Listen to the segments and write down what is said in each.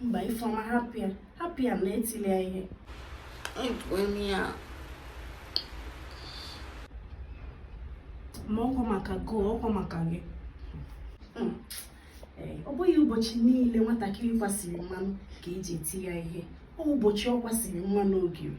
mba Ifeọma hapụ ya hapụ ya na etili ya ihe ma ọkwa maka gị ọkwa maka gị hmm. eh, ọ bụghị ụbọchị niile nwatakịrị kwasịrị mmanụ ka e ji eti ya ihe ọ ụbọchị ọ kwasịrị mmanụ ogiri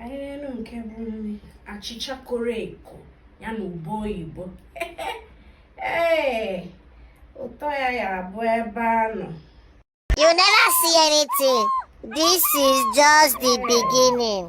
ahịrịelu nke bụ nri achịcha koro eko ya na ube oyibo ee ụtọ ya ya abụ ebe a nọ You never see anything. This is just the beginning.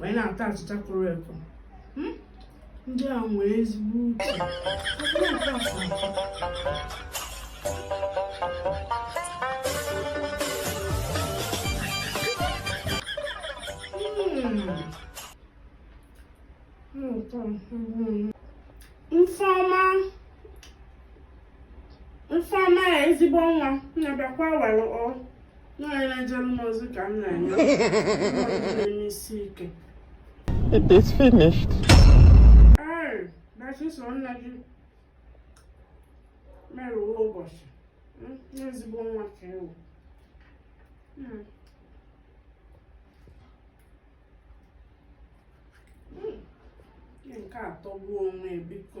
wee na-ata achịcha koro eko hmm? ndị a nwee ezigbo uche Ifeọma Ifeọma ezigbo nwa na-abịakwa were o onye na-ejere m ozi ka m na-enye na-eme isi ike It is finished. ee dachi so nna gị merụwa ụbọchị Mm, n'ezigbo nwa ka ị wụ Mm. Mm. Ihe nke a atọgbuo onwe ya, biko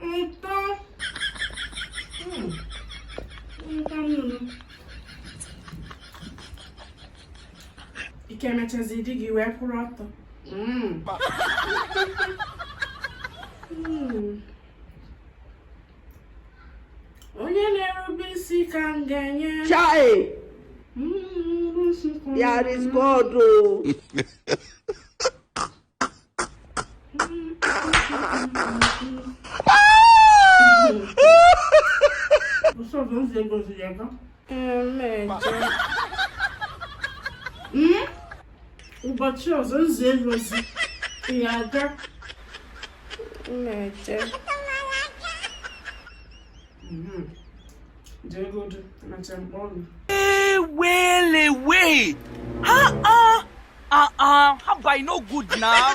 Nta. Hmm. Nta nnụnụ. Ike mechazi di gị wee kwụrụ ọtọ. Hmm. Hmm. Onye na-erube isi ka m ga-enye. Chai! Hmm, There is God oh. ụbọchị ọzọ m zie gị ozi ị ga na-eje mhm. ewelewe ha ha ha ha by no good now